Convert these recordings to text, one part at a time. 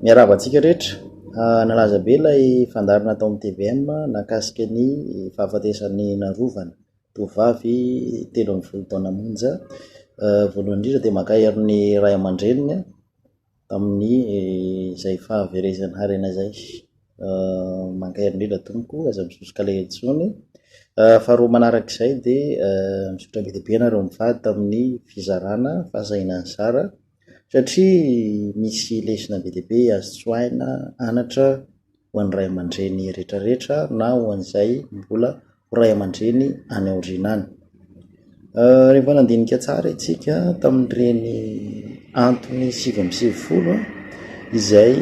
Miarahaba antsika rehetra. Nalaza be ilay fandary natao amin'ny tvm nahakasika ny fahafatesan'ny narovana tovovavy telo ambin'ny folo taona monja. Voalohany indrindra dia mankahery ny ray aman-dreniny tamin'ny izay fahaverezan'ny harena izay. Mankahery indrindra tompoko, aza misosoka alahelo intsony. Faharoa manaraka izay dia misaotra be dia be ianareo mivady tamin'ny fizarana fahasahiana nizara. satria misy lesona be dia be azo tsoahina anatra ho an'ny ray aman-dreny rehetra rehetra na ho an'izay mbola ho ray aman-dreny any aoriana any, rehefa nandinika tsara isika tamin'ireny antony sivy amby sivifolo izay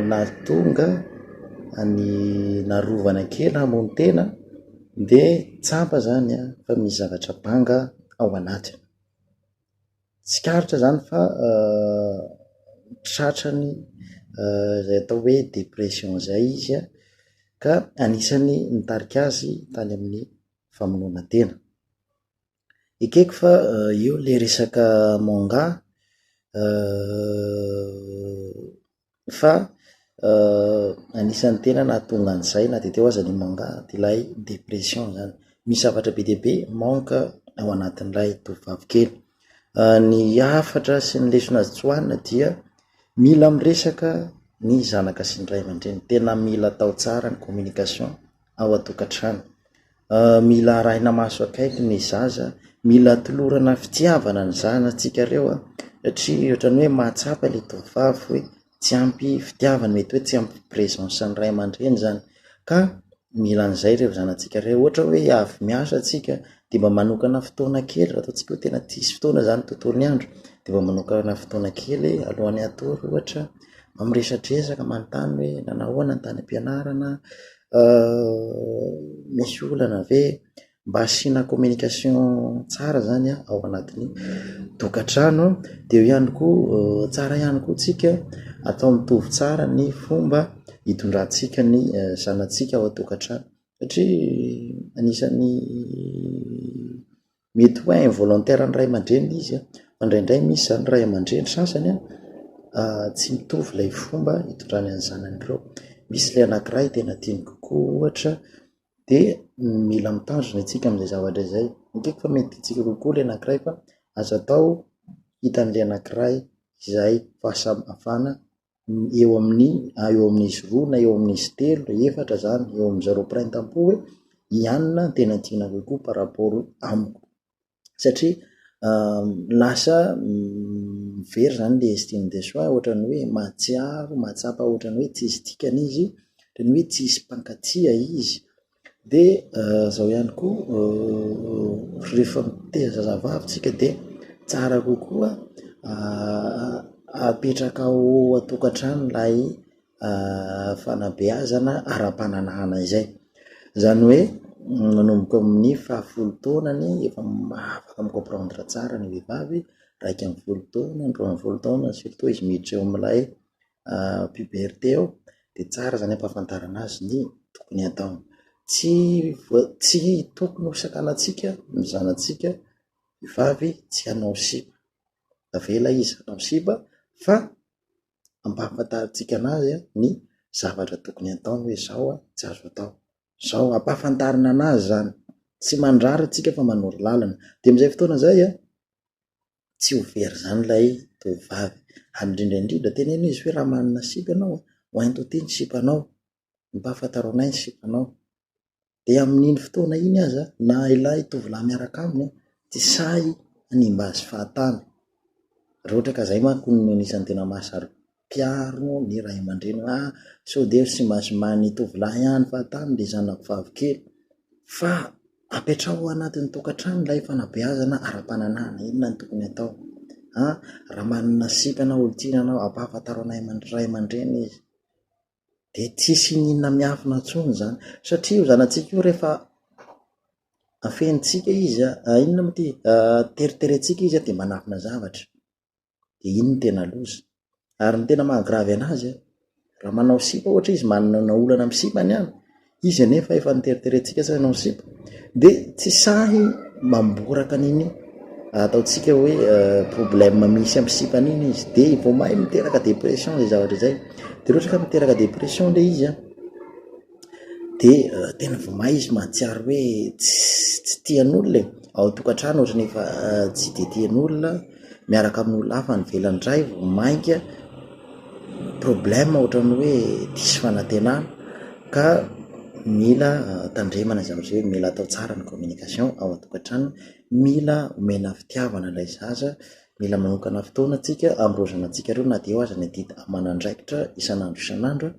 nahatonga an'i narovana kely hamono tena dia tsapa zany fa misy zavatra banga ao anatiny. Tsikaritra zany fa tratrany zay atao hoe depression zay izy an, ka anisan'ny nitarika azy tany amin'ny famonoana tena. Ekeko fa io le resaka manga fa anisan'ny tena nahatonga an'izay na dia teo aza ny manga ilay depression zany, misy zavatra be dia be manque ao anatin'ilay tovovavy kely, ny hafatra sy ny lesona azo tsoahina dia mila miresaka ny zanaka sy ny ray aman-dreny, tena mila atao tsara ny communication. ao an-tokantrano. Mila arahina maso akaiky ny zaza, mila atolorana fitiavana ny zanatsika reo an, satria ohatran'ny hoe mahatsapa le tovovavy hoe tsy ampy fitiavana, mety hoe tsy ampy presence ny ray aman-dreny zany, ka mila an'izay reo zanatsika reo, ohatra hoe avy miasa tsika de mba manokana fotoana kely, raha ataontsika hoe tena tsisy fotoana zany tontolo ny andro de mba manokana fotoana kely alohan'ny hatory ohatra. amin'ny resadresaka manontany hoe nanao ahoana ny tany am-pianarana, misy olana ve, mba asiana communication tsara zany ao anatin'ny tokantrano, de eo ihany koa tsara ihany koa tsika atao mitovy tsara ny fomba hitondrantsika ny zanatsika ao an-tokantrano satria anisan'ny. mety hoe involontaire ny ray aman-dreny ilay izy fa indraindray misy izany ny ray aman-dreny sasany an, tsy mitovy ilay fomba hitondrany ny zanany ireo, misy ilay anakiray tena tiany kokoa ohatra dia mila mitandrina isika amin'izay zavatra izay, midika fa mety tiantsika kokoa ilay anakiray fa aza atao hitan'ilay anakiray izay fahasamihafana eo amin'ny ah eo amin'izy roa na eo amin'izy telo na efatra zany eo amy zareo mpiray tampo hoe i anona no tena tiana kokoa par rapport amiko satria lasa very zany le estime de soi ohatrany hoe mahatsiaro mahatsapa ohatrany hoe tsisy dikany izy ohatrany hoe tsisy mpankatia izy Dia izao ihany koa rehefa mitaiza zazavavy tsika dia tsara kokoa apetraka ao an-tokantrano ilay fanabeazana ara-pananahana izay, zany hoe manomboka amin'ny faha folo taonany efa afaka mi comprendre tsara ny vehivavy, iraika amby folo taona, roa amby folo taona surtout izy miditra eo amin'ilay puberté eo de tsara zany ampahafantarana azy ny tokony ataony, tsy voa- tsy tokony ho sakanantsika ny zanatsika vavy tsy hanao sipa, avela izy hanao sipa fa ampahafantarintsika anazy an ny zavatra tokony ataony hoe zao an tsy azo atao, zao an, ampahafantarina anazy zany, tsy mandrara tsika fa manoro lalana, de amizay fotoana zay an tsy ho very izany ilay tovovavy. Ary indrindra indrindra, teneno izy hoe raha manana sipa ianao, ho hainto aty ny sipanao, ampahafantaro anay ny sipanao. Dia amin'iny fotoana iny aza, na ilay tovolahy miaraka aminy tsy sahy hanimba azy fahatany. Raha ohatra ka izay manko no anisan'ny tena mahasaro-. Mpiaro ny ray aman-dreny hoe ah, sao dia ry simaziman'ny tovolahy ihany fa tany ry zanako vavikely. Fa apetraho anatin'ny tokantrano ilay fanabeazana ara-pananahana, inona no tokony atao an? Raha manana sipa na olon-tiana anao, ampahafantaro anay ray aman-dreny izy. Dia tsy hisy iniana miafina intsony izany. Satria io zanatsika io rehefa afenintsika izy, inona moa ity, teriterentsika izy dia manafina zavatra. dia iny no tena loza. Ary ny tena maha gravy anazy an, raha manao sipa ohatra izy, manana olana amin'ny sipa ny an, izy anefa efa noteriterentsika sao ianao ny sipa, dia tsy sahy mamboraka an'iny ataontsika hoe problème misy amin'ny sipany iny izy, dia vao may miteraka dépression izay zavatra izay. Dia raha ohatra ka miteraka dépression ilay izy an, dia tena vao may izy mahatsiaro hoe tsy tian'olona e, ao an-tokantrano ohatran'ny efa tsy dia tian'olona, miaraka amin'olona hafa any ivelany indray vao mainka problème ohatran'ny hoe diso fanantenana ka mila tandremana izany hoe mila atao tsara ny communication ao an-tokantrano, mila omena fitiavana ilay zaza, mila manokana fotoana tsika ambohozinantsika ireo na dia eo aza ny adidy aman'andraikitra isan'andro isan'andro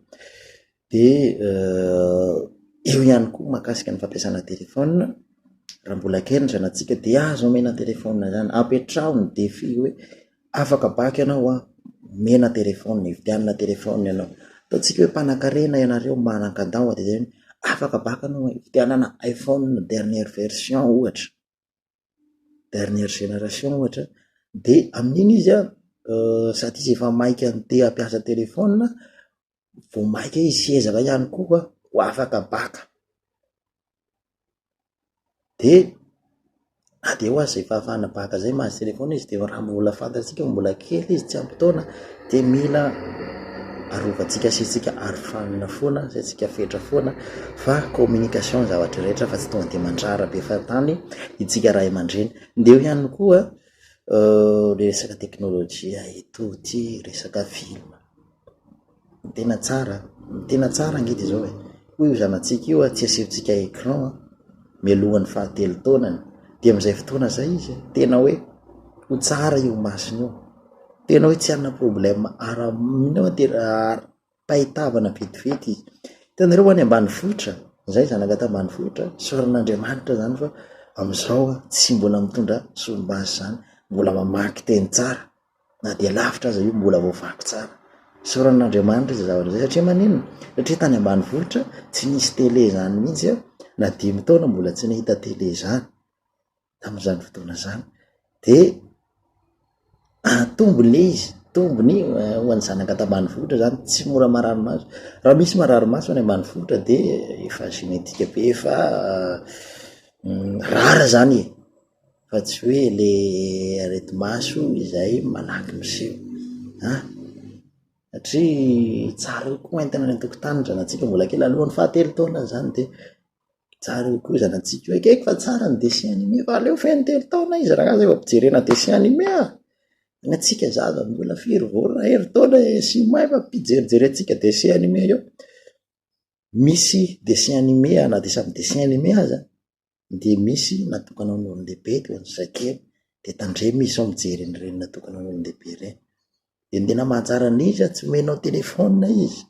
Dia eo ihany koa mahakasika ny fampiasana telefaonina, raha mbola kely ny zanatsika dia aza omena telefaonina izany, apetraho ny defi hoe afaka baiko ianao an, omena telefaonina, ividianana telefaonina ianao, ataontsika hoe mpanankarena ianareo manan-kandao dia zay hoe afaka baiko ianao an, ividianana iphone dernière version ohatra. dernière génération ohatra de amin'iny izy an sady izy efa maika te hampiasa telefona vao maika izy sy ezaka ihany koa ho afaka baka de na dia ho aza izay fahafahana baka izay mahazo telefona izy de raha mbola fantatsika mbola kely izy tsy ampy taona dia mila arovantsika saintsika ary fanina foana, saintsika fetra foana fa communication ny zavatra rehetra fa tsy tonga dia mandrara be fahatany isika ray aman-dreny. Dia eo ihany koa le resaka teknolojia eto ity resaka film, ny tena tsara, ny tena tsara ange dia zao e, hoy io zanatsika io tsy asehontsika écran mialohan'ny fahatelo taonany dia amizay fotoana zay izy tena hoe ho tsara io masony io. Tena hoe tsy hanana problème ara mino aho tena ara-pahitavana vetivety izy. Hitanareo any ambanivohitra, zay zanaka tambanivohitra, saoran'Andriamanitra zany fa amizao an tsy mbola mitondra solomaso zany, mbola mamaky teny tsara na de lavitra aza io mbola voavaky tsara. Saoran'Andriamanitra zay zavatra zay satria maninona, satria tany ambanivohitra tsy nisy tele zany mintsy an, na dimy taona mbola tsy nahita tele zany. tamin'izany fotoana izany de atombo le izy tombony ho an'ny zanaka ato ambanivohitra zany tsy mora marary maso raha misy marary maso any ambanivohitra de efa genetika be fa rara zany e fa tsy hoe le areti maso izay malaky miseho an satria tsara koa entina any an-tokotany zanatsika mbola kely alohan'ny fahatelo taona zany de Tsara io koa izy anantsika io. Ekeko fa tsara ny dessin animé fa aleo feno telo taona izy raha zay vao ampijerena dessin animé ah. Ny antsika zaza mbola firy vao raha herintaona eh, sy may fa ampijerijerentsika dessin animé eo. Misy dessin animé ah, na dia samy dessin animé aza dia misy natokana ho an'ny olon-dehibe dia ho an'ny zazakely dia tandremo izy sao mijery an'ireny natokana ho an'ny olon-dehibe ireny. Dia tena mahatsara ny izy a, tsy omenao telephone izy,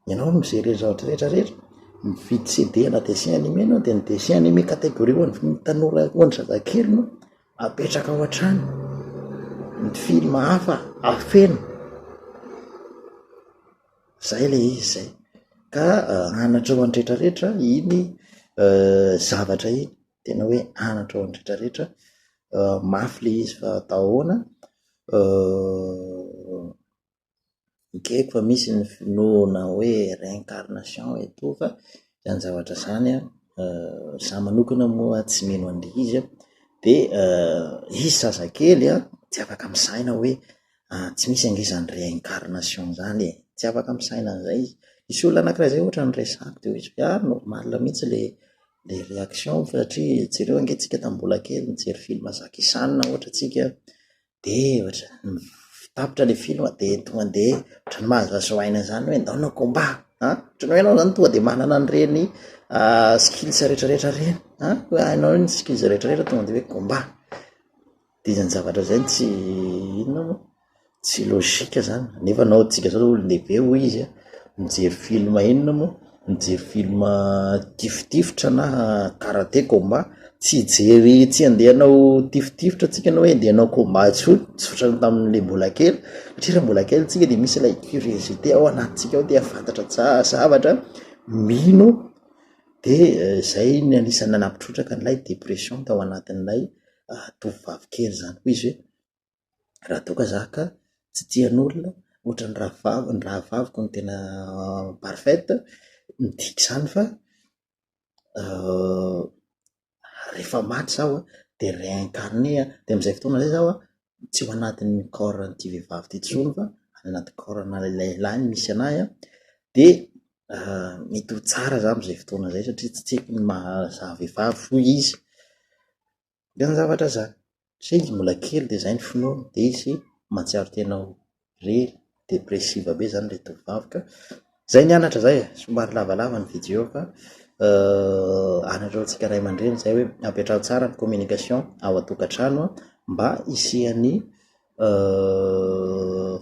ianao no mi-gérer ny zavatra rehetra rehetra, mividy CD na dessin animé ianao dia ny dessin animé catégorie ho an'ny tanora ho an'ny zazakely no apetraka ao an-trano, ny film hafa afeno, zay le izy zay ka hanatreho an'ny rehetra rehetra iny zavatra iny. tena hoe anatra ao amin'ny rehetra rehetra, mafy ilay izy fa atao ahoana, ekeko fa misy ny finoana hoe réincarnation eto fa izany zavatra izany an, za manokana moa tsy mino an'ilay izy an, de izy zazakely an tsy afaka misaina hoe tsy misy ange zany réincarnation zany e, tsy afaka misaina an'izay izy, nisy olona anakiray zay ohatrany resahiko de hoe ah normal mihintsy le le réaction satria jereo ange tsika tam mbola kely mijery film Jackie Chan ohatra tsika de ohatra tapitra le film de tonga de ohatrany mahazahazo aina zany hoe ndao anao combat an ohatrany hoe enao zany tonga de manana an'ireny skills retraretra reny an hoe hainao ny skills retraretra tonga de hoe combat. Dia izany zavatra izany tsy inona moa, tsy logique izany, nefa anao antsika izao olon-dehibe hoy izy a, mijery film inona moa, mijery film tifitifitra na karate, combat, tsy hijery tsy handeha hanao tifitifitra antsika na hoe handeha hanao combat intsony, tsy ohatran'ny tamin'ilay mbola kely satria raha mbola kely isika dia misy ilay curiosité ao anatintsika ao te hahafantatra tsara zavatra, mino dia izay no anisan'ny nanapitrotraka an'ilay dépression tao anatin'ilay. tovovavy kely zany koa izy hoe raha toa ka za ka tsy tian'olona ohatran'ny rahavaviko, ny rahavaviko no tena parfaite, midika zany fa rehefa maty zaho an de reincarne an, de am'zay fotoana zay zaho an tsy ao anatin'ny corps an'ity vehivavy ty tsony fa any anaty corps ana le lehilahy no misy anahy a, de mety ho tsara za am'zay fotoana zay satria tsy haiko ny maha za vehivavy hoy izy, de zany zavatra zany, satria izy mbola kely de zay ny finoany de izy mahatsiaro tena ho. re depressive be zany le tovovavy ka zay nianatra zay e, somary lavalava ny video fa anareo antsika ray aman-dreny zay hoe ampiantrano tsara ny communication ao an-tokantrano an, mba hisian'ny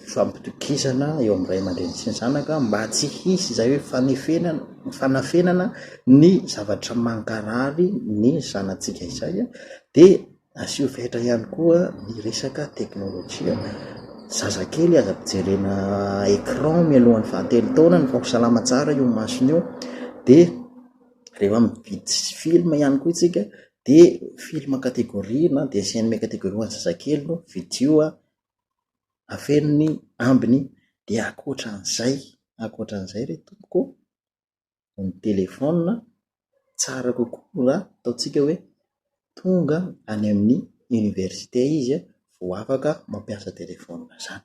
fifampitokisana eo amin'ny ray aman-dreny sy ny zanaka mba tsy hisy zay hoe fanefenana fanafenana ny zavatra mankarary ny zanatsika izay an, dia. Asio fetra ihany koa ny resaka teknolojia. Zazakely aza ampijerena écran mialohan'ny fahatelo taonany fa ho salama tsara io masony io dia rehefa mividy film ihany koa isika dia film catégorie na dessin animé catégorie ho an'ny zazakely no vidio a, afeno ny ambiny dia ankoatra an'izay, ankoatra an'izay re tompoko ô. ny telephone, tsara kokoa raha ataontsika hoe tonga any amin'ny université izy vao afaka mampiasa telephone zany.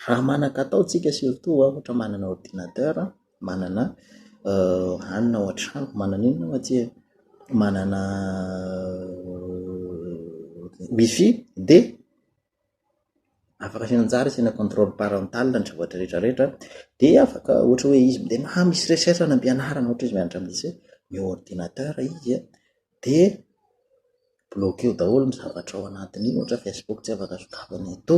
Raha manan-katao tsika surtout ohatra manana ordinateur, manana any ao an-trano, manana inona moa tsika, manana wifi dia. afaka asiana anjara, asiana contrôle parental ny zavatra rehetra rehetra, dia afaka ohatra hoe izy mndeha maha misy recherche any am-pianarana ohatra izy mianatra amin'ny lycée, ny ordinateur izy an, dia bloquer daholo ny zavatra ao anatin'iny ohatra hoe facebook tsy afaka sokafana eto,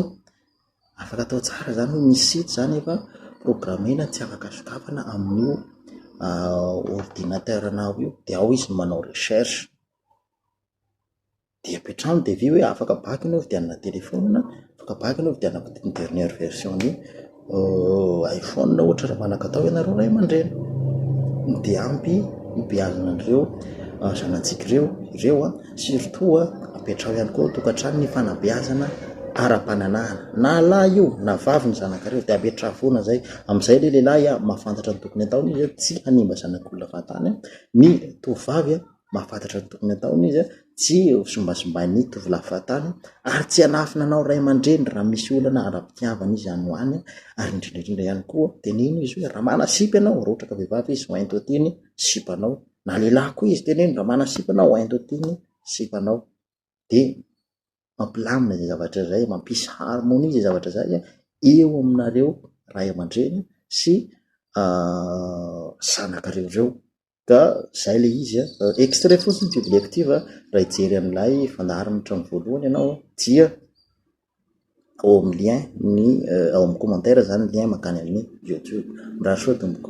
afaka atao tsara zany hoe misy site zany efa programmer-na tsy afaka sokafana amin'io ordinateur-nao io, dia ao izy no manao recherche. Dia avy hatrany devis hoe afaka bac ny hovidianana téléphone, afaka bac ny hovidianako ny dernière version ny iphone ohatra raha manakatao ianareo ray aman-dreny. Dia ampy hibeazana an'ireo zanatsika ireo ireo an, surtout apetraho ihany koa ao an-tokantrano ny fanabeazana ara-pananahana, na lahy io na vavy ny zanakareo dia ametraha foana izay, amin'izay ilay lehilahy mahafantatra ny tokony hataony hoe tsy hanimba zanak'olona fahatany an, ny tovovavy an mahafantatra ny tokony hataony izy, tsy simbasimbain'ny tovolahy fahatany ary tsy hanafina anao ray aman-dreny raha misy olana ara-pitiavana izy any ho any ary indrindra indrindra ihany koa teneno izy hoe raha manana sipa ianao, raha ohatra ka vehivavy izy ho ento aty ny sipanao, na lehilahy koa izy teneno raha manana sipa ianao ho ento aty ny sipanao de mampilamina izay zavatra izay, mampisy harmonie izay zavatra izay eo aminareo ray aman-dreny sy zanakareo ireo. Ka zay le izy a. Extrait fotsiny biby lective a, raha hijery an'ilay fandaharan'ny trano voalohany ianao dia ao amin'ny lien ny ao amin'ny commentaire zany ny lien mankany amin'ny youtube. Mirary soa tompoko.